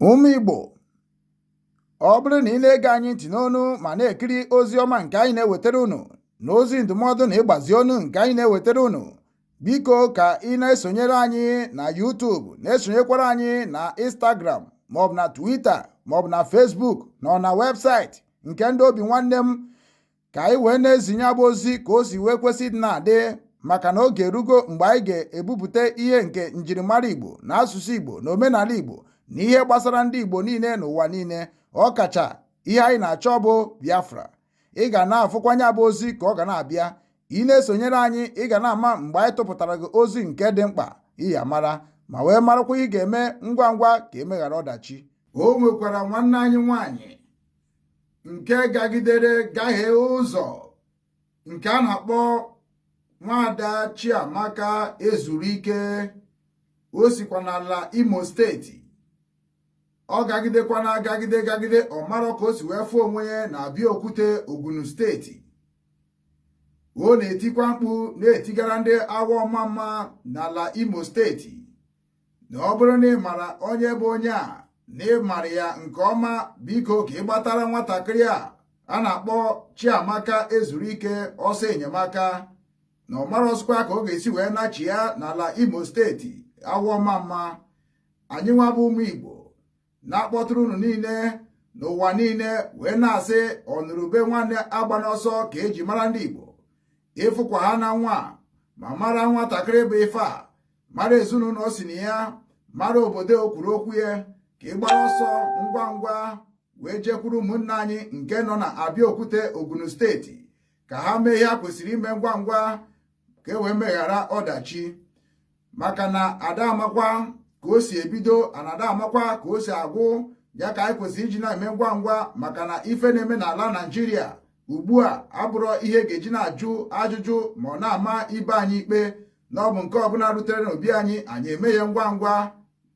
Ụmụ Igbo ọ bụrụ na ị na-ege anyị ntị n'onu ma na-ekiri ozi ọma nke anyị na-ewetara unu na ozi ndụmọdụ na ịgbazi ọnụ nke anyị na-ewetara unu biko ka ị na-esonyere anyị na YouTube na-esonyekwara anyị na Instagram maọbụ na Twitter maọbụ na Facebook na ọ na webụsaịtị nke ndị obi nwanne m ka anyị wee na-ezinye ya bụ ozi ka o si wee kwesị ịdị na-adị maka na oge erugo mgbe anyị ga-ebupụta ihe nke njirimara Igbo na asụsụ Igbo na omenala Igbo na ihe gbasara ndị Igbo niile n'ụwa niile ọ kacha ihe anyị na-achọ bụ Biafra ị ga na-afụkwanụ ya bụ ozi ka ọ ga na-abịa ị na-esonyere anyị ị ga na-ama mgbe anyị tụpụtara gị ozi nke dị mkpa ị ya-amara ma wee marakwa ihe ị ga-eme ngwa ngwa ka e meghara ọdachi o nwekwara nwanne anyị nwaanyị nke gagidere gahee ụzọ nke a na-akpọ nwada Chiamaka Ezuruike o sikwa n'ala Imo steeti ọ gagidekwa na-agagide gagide ọ marọ ka o si wee fụ onwe ya na Abeokuta Ogun steeti ọ na-etikwa mkpu na-etigara ndị Awo-Omamma n'ala Imo steeti na ọ bụrụ na ị mara onye bụ onye a na ị mara ya nke ọma biko ka ị gbatara nwatakịrị a a na-akpọ Chiamaka Ezuruike ọsọ enyemaka na ọ marọzịkwa ka ọ ga-esi wee nachi ya n'ala Imo steeti Awo-Omamma anyị nwa bụ ụmụ Igbo na-akpọtụrụ unu niile n'ụwa niile wee na-asị ọnụrụ ube nwanne agbana ọsọ ka e ji mara ndị Igbo ị fụkwa ha na nwa a ma mara nwatakịrị bụ ife a mara ezinụlọ o si na ya mara obodo o kwuru okwu ya ka ị gbara ọsọ ngwa ngwa wee jekwuru ụmụnna anyị nke nọ na Abeokuta Ogun steeti ka ha mee ihe ha kwesịrị ime ngwa ngwa ka e wee meghara ọdachi maka na ada amakwa ka o si ebido ana ada amakwa ka o si agwụ ya ka anyị kwesịrị iji na-eme ngwa ngwa maka na ife na-eme n'ala Naịjirịa ugbu a abụrọ ihe a ga-eji na-ajụ ajụjụ ma ọ na-ama ibe anyị ikpe na ọ bụ nke ọbụla rutere n'obi anyị anyị eme ya ngwa ngwa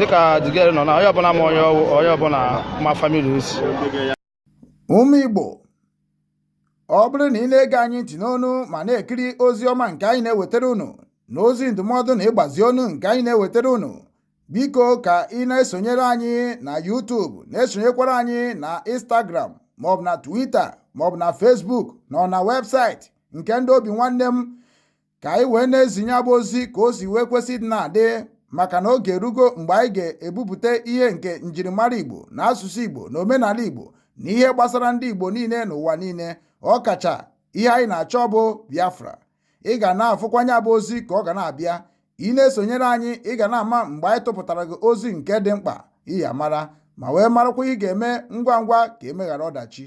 dịka the girl nọ na onye ọbụla ma onye ọ wụ onye ọbụla ma family o si ụmụ Igbo ọ bụrụ na ị na-ege anyị ntị n'onu ma na-ekiri ozi ọma nke anyị na-ewetara unu na ozi ndụmọdụ na ịgbazi onu nke anyị na-ewetara unu biko ka ị na-esonyere anyị na YouTube na-esonyekwara anyị na Instagram maọbụ na Twitter maọbụ na Facebook na ọ na webụsaịtị nke ndị obi nwanne m ka anyị wee na-ezi nya bụ ozi ka o si wee kwesị ịdị na-adị maka na oge erugo mgbe anyị ga-ebupụta ihe nke njirimara Igbo na asụsụ Igbo na omenala Igbo na ihe gbasara ndị Igbo niile n'ụwa niile ọ kacha ihe anyị na-achọ bụ Biafra ị ga na-afụkwa nya bụ ozi ka ọ ga na-abịa ị na-esonyere anyị ị ga na-ama mgbe anyị tụpụtara gị ozi nke dị mkpa ị ya-amara ma wee marakwa ihe ị ga-eme ngwa ngwa ka e mee ghara ọdachi